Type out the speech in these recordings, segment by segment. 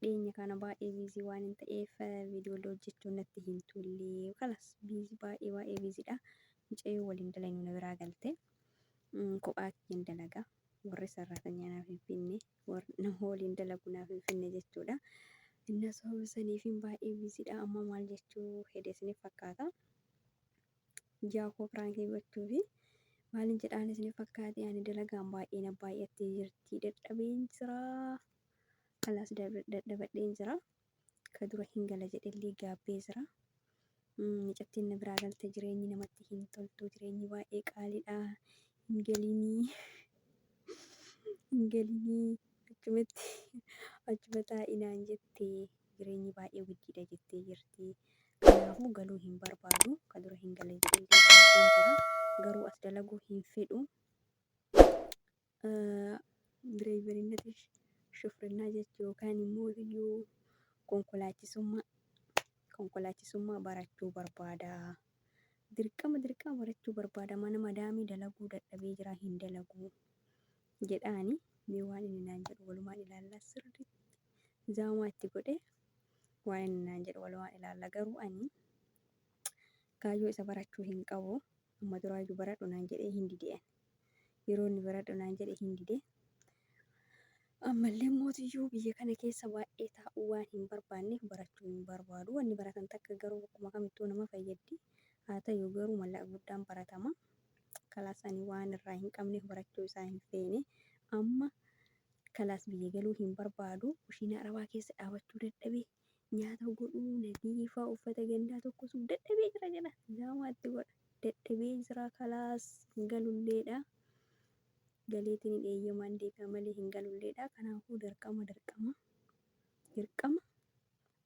dhiyeenya kana baay'ee biizii waan hin ta'eef viidiyoollee hojjechuun natti hin tullee kalas biizii baay'ee baay'ee biiziidha mucayyoo waliin dalaynuu na biraa galte kophaa kiyyan dalaga warri sarraatanya naaf hin finne warri nama waliin dalagu naaf hin finne jechuudha inna sababa saniifiin baay'ee biiziidha amma maal jechuu hede isiniif fakkaata Ijaa koo piraankii gochuufi maalin jedhaan isin fakkaate ani dalagaan baay'ee na baay'attee jirti dadhabeen jira alaas dadhabadheen jira ka dura hin gala jedhellee gaabbee jira mucattiin na biraa galte jireenyi namatti hin toltu jireenyi baay'ee qaaliidha hin galinii hin galinii achumatti achuma taa'inaan jettee jireenyi baay'ee guddiidha jettee jirti. Kanaafuu galuu hin barbaadu. Kan dura hin galle jedhee gaafachuu jira. Garuu as dalaguu hin fedhu. Direeyberinnati shufrinnaa jechuu yookaan immoo iyyuu konkolaachisummaa konkolaachisummaa barachuu barbaada. Dirqama dirqama barachuu barbaada. Mana madaamii dalaguu dadhabee jira hin dalaguu. jedhaani mee waan inni naan jedhu walumaan ilaalla sirriitti zaamaa itti godhe waan inni naan jedhu walumaan ilaalla garuu ani kaayyoo isa barachuu hin qabu amma duraayyuu baradhu naan jedhee hin dideen yeroo inni baradhu naan jedhe hin dide ammallee mootiyyuu biyya kana keessa baay'ee taa'uu waan hin barbaanneef barachuu hin barbaadu wanni baratan takka garuu akkuma kamittuu nama fayyaddi haa ta'u garuu mallaqa guddaan baratama kalaas ani waan irraa hin qabneef barachuu isaa hin feene amma kalaas biyya galuu hin barbaadu kushiina arabaa keessa dhaabachuu dadhabe nyaata godhuu nadiifaa uffata gandaa tokko suuf dadhabee jira jedha zaamaatti godha dadhabee jira kalaas hin galulleedha galeetiin hin eeyyamaan deebi'a malee hin galulleedha kanaafuu dirqama dirqama dirqama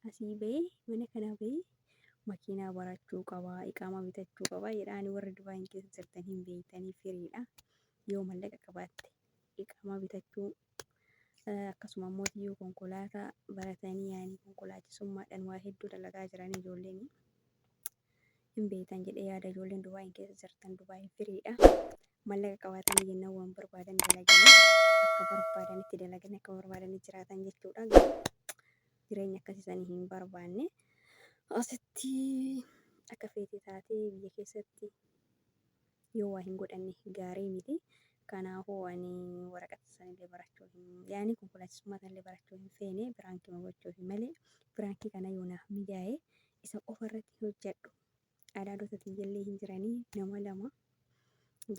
Asii bahee mana kanaa bahee makiinaa barachuu qaba, iqaamaa bitachuu qaba jedha. Ani warri Dubaayin keessa jirtan hin beektanii firiidha. Yoo mallaqa qabaatte iqaamaa bitachuu eh, akkasuma immoo yoo konkolaataa baratanii yaani konkolaachisummaadhaan waa hedduu dalagaa jiran ijoolleen hin beektan jedhee yaada ijoolleen Dubaayin keessa jirtan Dubaayin firiidha. Mallaqa qabaatanii jennaan waan barbaadan dalaganii akka barbaadanitti dalaganii akka barbaadanitti jiraatan jechuudha. Garuu jireenya akkasii sanii hin barbaanne. Asitti akka feete taatee biyya keessatti yoo waa hin godhanne gaarii miti. Kanaafuu ani waraqata sanillee barachuu hin yaani konkolaachisummaa sanillee barachuu hin feene biraankii gochuuf malee biraankii kana yoo naaf mijaa'e isa qofa irratti hojjedhu. Adaadota tiyyallee hin jiranii nama lama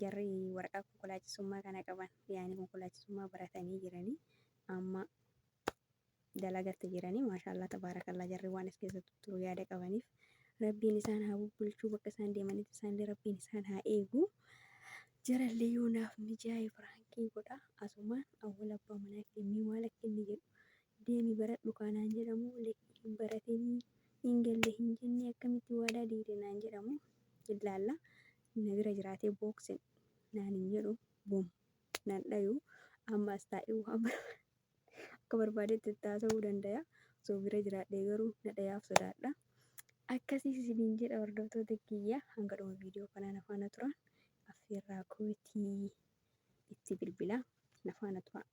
jarri waraqaa konkolaachisummaa kana qaban yaani konkolaachisummaa baratanii jiranii amma dalagatti jiranii maashaallah tabaarakallaa jarri waan as keessa tutturu yaada qabaniif rabbiin isaan haa bubbulchuu bakka isaan deemanitti isaanillee rabbiin isaan haa eegu jarallee yoo naaf mijaa'e firaankii godha asumaan awwal abbaa manaa kennii maal akka inni jedhu deemi baradhu kaanaan jedhamu hin baratinii hin galle hin jennee akkamitti waadaa diigde naan jedhamu illaalla na bira jiraatee booksin naan hin jedhu bum naan dhayu amma as taa'ee waan barbaadu Akka barbaadetti itti haasa'uu dandaya. Osoo bira jiraadhee garuu na dhayaaf sodaadha. Akkasiis isiniin jedha hordoftoota kiyya hanga dhuma viidiyoo kanaa na faana turaa. Affeerraa kootii itti bilbilaa na faana turaa.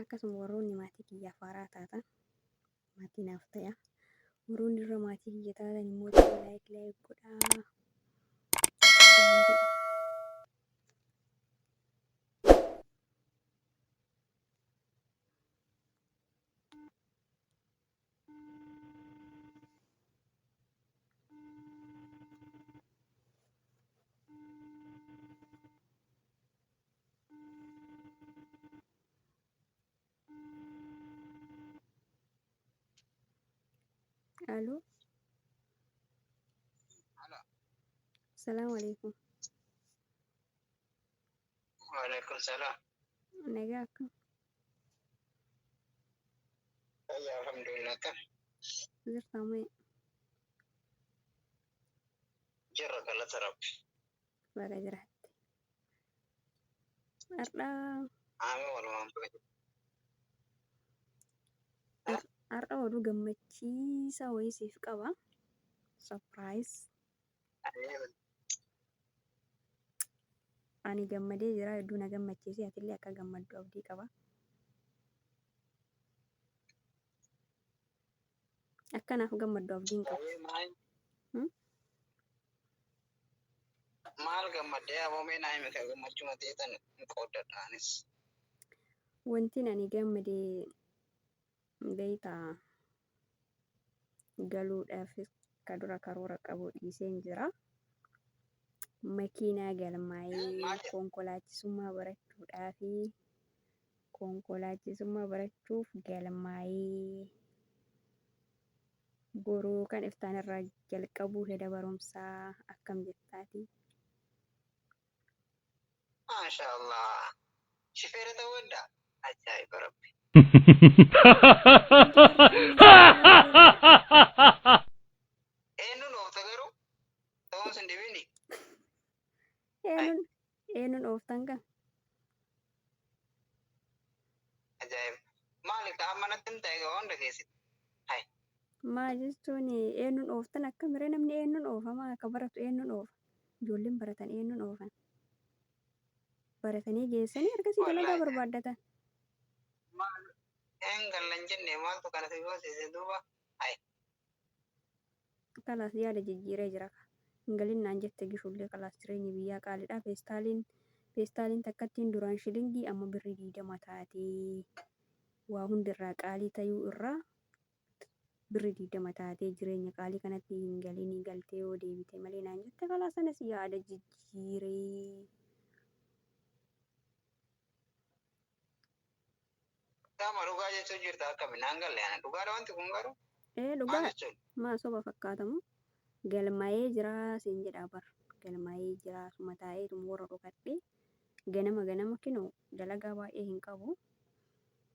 Akkasuma warroonni maatii kiyyaaf haaraa taatan maatii naaf ta'a. Warroon irra maatii kiyya taatan immoo laayik laayik godhaa. Aloo. Salaamu alaikum. Waalaikum salaam. Nagaa akkam? Fayyaa alhamdulillah kan Jirtaa mee? jirra galata rabbi. Baga jiraatte. Har'aa Aami walumaan baga jiraatte. har'a oduu gammachiisaa wayii siif qaba. Surprise. Ani gammadee jira hedduu na gammachiise atillee akka gammaddu abdii qaba. Akkanaaf gammaddu abdiin qabu. Wayii maal Hmm? maal gammaddee aboomee naa hime kan gammachuu na ta'eetan hin qooddadha anis. Wantin ani gammade beektaa galuudhaafis ka dura karoora qabu dhiiseen jira. Makiinaa galmaa'ee Maal jedha? konkolaachisummaa barachuudhaafi Konkolaachisummaa barachuuf galmaa'ii. Boruu kan iftaan irraa jalqabuu heda barumsaa akkam jirtaati? Maashaa Allah. Shifeera ta'uu hedda. Ajaa'iba rabbi. Eenyuun oofta garuu? Ta'uun sin dhibini. Eenyuun Eenyuun ooftan kan? Ajaa'iba. Maali ka amma natti himta egaa waan dhageessite. Hai. Maal jechuun eenyuun ooftan akkamiree namni eenyuun oofama akka baratu eenyuun oofa. Ijoolleen baratan eenyuun oofan. Baratanii geessanii ergasii dalagaa Wallaahi. barbaaddatan. Maal hin gallan jenne maaltu kana si goosise duuba. Hai. Kalaas yaada jijjiiree jira ka. Hin galin naan jette gifullee kalaas jireenyi biyyaa qaalidha peestaaliin peestaaliin takkattiin duraan shilingii amma birrii 20 taatee waa hundi irraa qaalii tayuu irraa birrii 20 taatee jireenya qaalii kanatti hin galinii galtee yoo deebite malee naan jette kalaas anis yaada jijjiiree. Qaama dhugaa jechuun jirta akkami naan galle ana dhugaadha wanti kun garuu Ee maal dhugaa jechuun maa soba fakkaatamu galmaa'ee jiraa siin jedhaa bar galmaa'ee jiraa suma taa'eetum warra dhokadhee ganama ganama kinoo dalagaa baay'ee hin qabu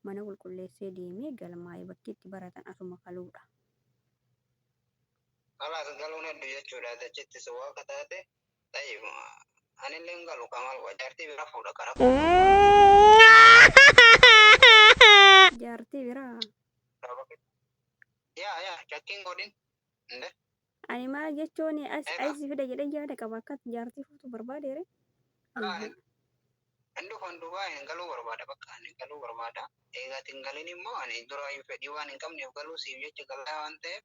mana qulqulleessee deemee galmaa'ee bakki itti baratan asuma kaluudha. alaas galuun heddu jechuudha achitti si waaqa taate Tayyib anillee hin galu kamal waa jaartii bira fuudha qara. Jaartii biraa. Yaa yaa shakkiin godhin. Nde Ani maal jechuun as Egaa. aisi fida jedhee yaada qaba akkas jaartii fuutu barbaadeere. hin dhufan duubaa hin galuu barbaada bakka ani galuu barbaada. Eegaati hin galin immoo ani duraayyuu fedhii waan hin qabneef galuu siif jecha galaa waan ta'eef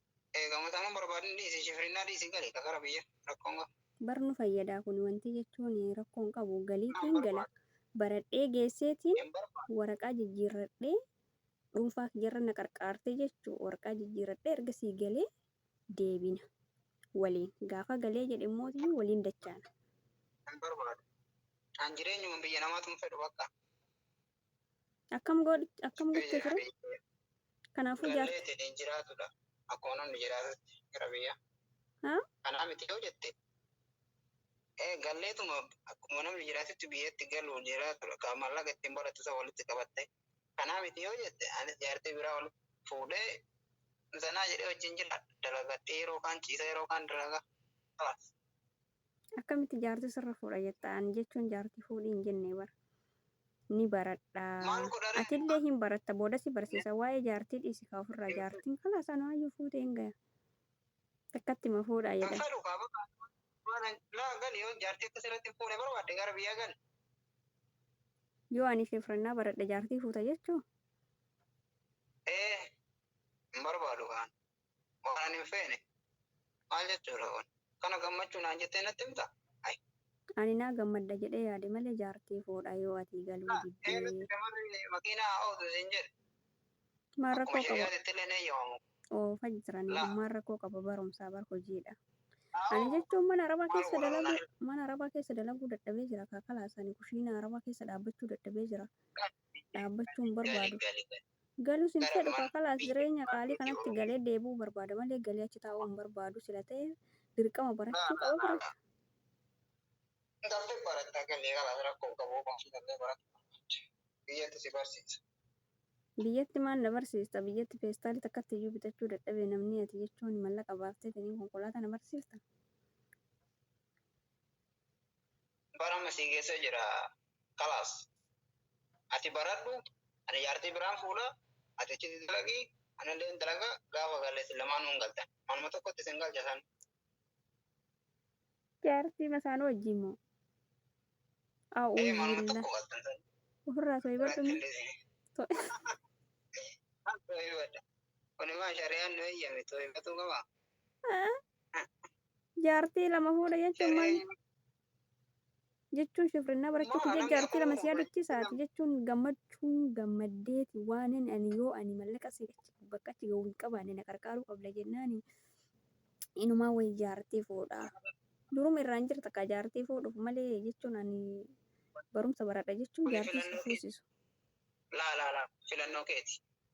Gammataan hin barbaadin dhiisi shifrinnaa dhiisi gali ka gara biyya rakkoon qabu. Bar nu fayyadaa kuni wantii jechuun rakkoo hin qabu galiitiin gala baradhee geesseetiin waraqaa jijjiirradhee dhuunfaa kiyyarra na qarqaartee jechuu waraqaa jijjiirradhee ergasii galee deebina waliin gaafa galee jedhe immoo tiyyuu waliin dachaana. Hin barbaadu. An jireenyuma biyya namaatu hin fedhu bakka. Akkam goodhi akkam gochuu ture? Kanaafuu jaartii. Gallee ittiin jiraatudha. Akkuma namni jiraatutti gara biyyaa. Haa? Kanaa miti yoo jette. Eh, galleetuma akkuma namni jiraatutti biyyatti galuun jiraatudha. Kan mallaqa ittiin barattu isa walitti qabatte. Kanaa miti yoo jette ani jaartii biraa ol fuudhee zanaa jedhee wajjin jira. Dalagadhee yeroo kaan ciisa yeroo kaan dalagaa. Kalas. Akkamitti jaartii sirra fuudha jetta ani jechuun jaartii fuudhi hin jenne bar ni baradha Maal godhare? atillee hin baratta booda si barsiisa waa'ee jaartii dhiisi kaa ofirraa jaartiin kalaas anaayyuu fuutee hin gaya takkatti ma fuudha Kan jedhan fedhu kaa bakka waan naa gali yoo jaartii akka sirratti hin fuune barbaadde gara biyyaa gali. yoo ani shifrannaa baradhe jaartii fuuta jechuu Ee hin barbaadu kaan. waan ani hin feene maal jechuudha kun kana gammachuu naan jettee natti himta ay Ani naa gammadda jedhee yaade malee jaartii foodha yoo atii galuu naa diddee. eenyutti shamarri makiinaa haa ootu siin jedhe Maal akkuma rakkoo qaba? shari'aatitti illee hin eeyyamamu Oofa jiranii laa maal rakkoo qaba barumsaa bar hojiidha. Ani aawoo jechuun mana arabaa maal keessa godhannaa dalaguu mana arabaa keessa dalaguu dadhabee jira kaa kalaas ani kushiina arabaa keessa dhaabbachuu dadhabee jira dhaabbachuun gali barbaadu. gali gali Galus hin fedhu kaa kalaas jireenya qaalii kanatti galee deebi'uu barbaada malee galee achi taa'uu hin barbaadu sila ta'e dirqama barachuu qaba barata. Galle barata galle kalaas rakkoo hin qabu ofuma ofii galle barata barbaadde biyyatti si barsiisa. Biyyatti maal na barsiista biyyatti peestaalii takkatti iyyuu bitachuu dadhabee namnii ati jechuun mallaqa baafteetiniin konkolaataa na barsiifta. bar amma sii geessee jira kalaas ati baradhu ani jaartii biraan fuudha ati achitti dalagii anillee hin dalaga gaafa galle isin lamaanuu hin galtan manuma tokkotti isin galcha san Jaartii masaanuu wajjin moo? ee A'uun manuma billah. tokko galtan san Ofirraa soyibadhu mee. Toibadha. Kuni maa shari'aan nu eeyyame toibatuu qaba. Jaartii lama fuudha jechuun maal jechuun shifrinna barachuuf jecha jaartii lama si yaadachiisaati jechuun gammachuun gammaddeeti waanin ani yoo ani mallaqa si achi bakka achi ga'u hin qabaanne na qarqaaruu qabda jennaani inumaa wayi jaartii fuudha. Duruma irraan jirta kaa jaartii fuudhuuf malee jechuun ani barumsa baradha jechuun jaartii si fuusisu. Laa laa laa filannoo keeti.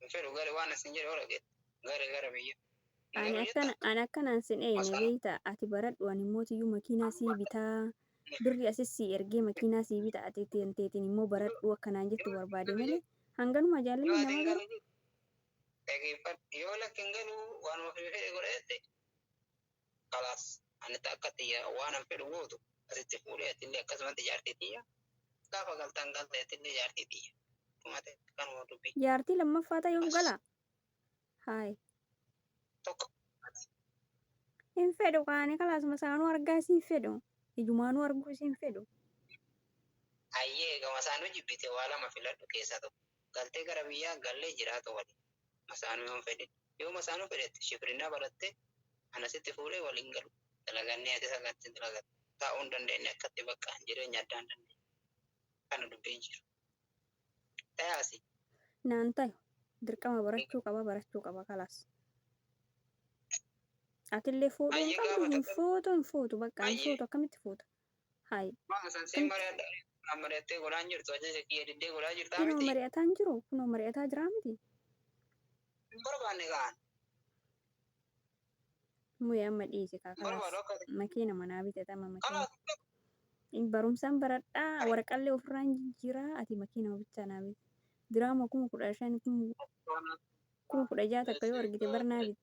hin fedhu gale waan isin jedhe ola geette gale gara biyya Ani Garuu akkana jettan ani akkanaan sin eeyne Masana. beeyta ati baradhu ani immoo tiyyuu makiinaa sii bitaa birri asis sii ergee makiinaa sii bita ati teen teetiin immoo baradhu akkanaan jettu barbaade malee hanganuma yoo jaalalli ati namaa hin garuu galu dhageeffadhu yoo lakki hin galu waanuma fedhe fedhe godha jette kalaas ani takka tiyya waanan fedhu gootu asitti fuudhee atillee akkasumatti jaartii tiyya gaafa galtaan galte atillee jaartii tiyya dhumate kanuma dubbi Jaartii lammaffaa ta'e yoom gala? Haay. tokko Hin fedhu qaani kalaasuma isaanuu argaa isii hin fedhu. Ijumaanuu arguu isii hin fedhu. ayyee gama isaanuu jibbite waa lama filadhu keessaa tokko galtee gara biyyaa gallee jiraatu waliin masaanuu yoon fedhe yoo masaanuu fedhette shifrinaa baratte ana sitti fuudhee waliin galu dalagannee ati sagatti dalagatte taa'uu hin dandeenye akkatti bakka jireenya addaa hin dandeenye kana dubbiin jiru tayaasi naan tayu dirqama barachuu qaba barachuu qaba kalaas atillee fuudhuu hin Ayyi qabdu gaafa hin tokko- fuutu hin fuutu bakka hin Ayyi. fuutu akkamitti fuuta Hayi. Maal san siin mari'adha Naan mari'attee godhaa hin jirtu ajaja kiyya diddee godhaa jirtaa Kunoo miti mari'ataa hin jiru kunoo mari'ataa jiraa miti Hin barbaanne kaan Muye amma dhiisi kaa Hin barbaadu kalaas akka ati makiina manaa bitata amma makiina Kalaas Hin barumsaan baradhaa Ani waraqallee ofirraa hin jijjiiraa ati makiinama bichaa naa biti diraama kuma kudha shan kuma kuma kudha ja'a takka yoo argite bar naa bitta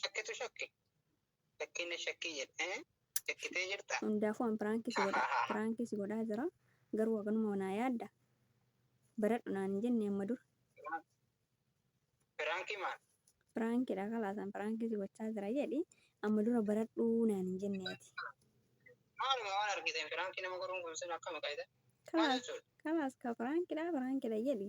Shakkitu shakke. Shakkii na shakkii jedhe. Shakkitee jirta. Hundaafuu an piraankii si godha piraankii si godhaa jira garuu waganuma naa yaadda baradhu naan hin jenne amma dura Piraankii maal? piraankiidha kalaas an piraankii si gochaa jira jedhi amma dura baradhu naan hin jenne ati Maaluma waan argiteen piraankii nama godhuun kun sin akkami qayyada? Maal kalaas jechuudha? kalaas ka piraankiidha piraankiidha jedhi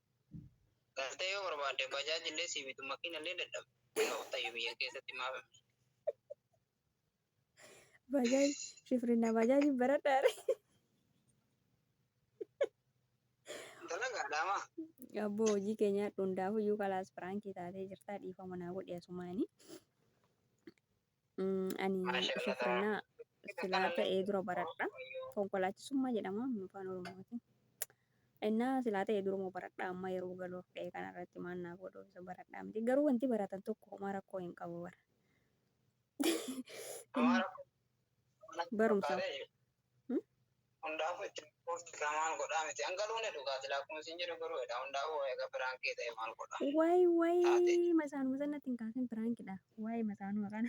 Galtee yoo barbaadde bajaaj illee sii bitu makiina illee dadhabde. Yoo tayyu biyya keessatti maaf hin bitu? Bajaaj shifrinna bajaaj hin baradhaare. Dalagaa dhaama. Abboo hojii keenyaa dhundaafuu iyyuu kalaas firaankii taatee jirtaa dhiifama naa godhi asumaanii. Ani shufirnaa silaa ta'ee dura baradha. Konkolaachisummaa jedhama afaan Oromootiin. Innaa silaa ta'ee duruma baradha amma yeroo galuuf dha'ee kanarratti maal naa godhu isa baradhaa miti. Garuu wanti baratan tokko homaa rakkoo hin qabu bara. Barumsa. Hundaafuu itti buufti kamaan godhaa miti. Hangaluun dhugaa silaa akkuma isin jedhu garuu jedha. Hundaafuu egaa biraankii ta'e maal godhaa? Waay waay masaanu masan natti hin kaasin piraankidha. Waay masaanu maqaan.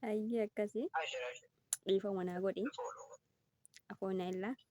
Ayyee akkasi. Dhiifama naa godhi. Afoona illaa.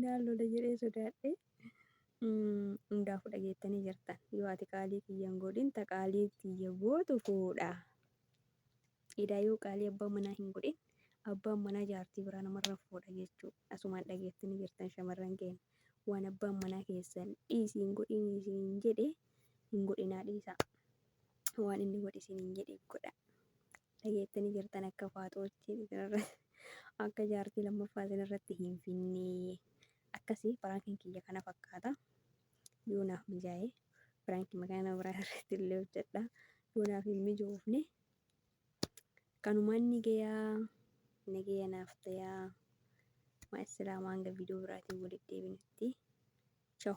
Naan lola jedhee sodaadhee. Hundaafuu dhageettanii jirtan. Yoo ati qaalii kiyya hin godhin ta qaalii kiyya gootu fuudha. Edaa yoo qaalii abbaan manaa hin godhin abbaan manaa jaartii biraa namarra fuudha jechuudha. Asumaan dhageettanii jirtan shamarran keenya. Waan abbaan manaa keessan dhiisii hin godhin isin jedhe hin godhinaa dhiisaa. Waan inni godhi isin hin jedhe godha. dhageettanii jirtan akka faaxootti isinirra akka jaartii lammaffaa isinirratti hin finnee akkasii piraankiin kiyya kana fakkaata yoo naaf mijaa'e piraankiin makaana biraa irratti illee hojjedha yoo naaf hin mijoofne kanumaan ni gayaa nagaya naaf tayaa maa islaamaa hanga viidiyoo biraatiin walitti deebinutti chaw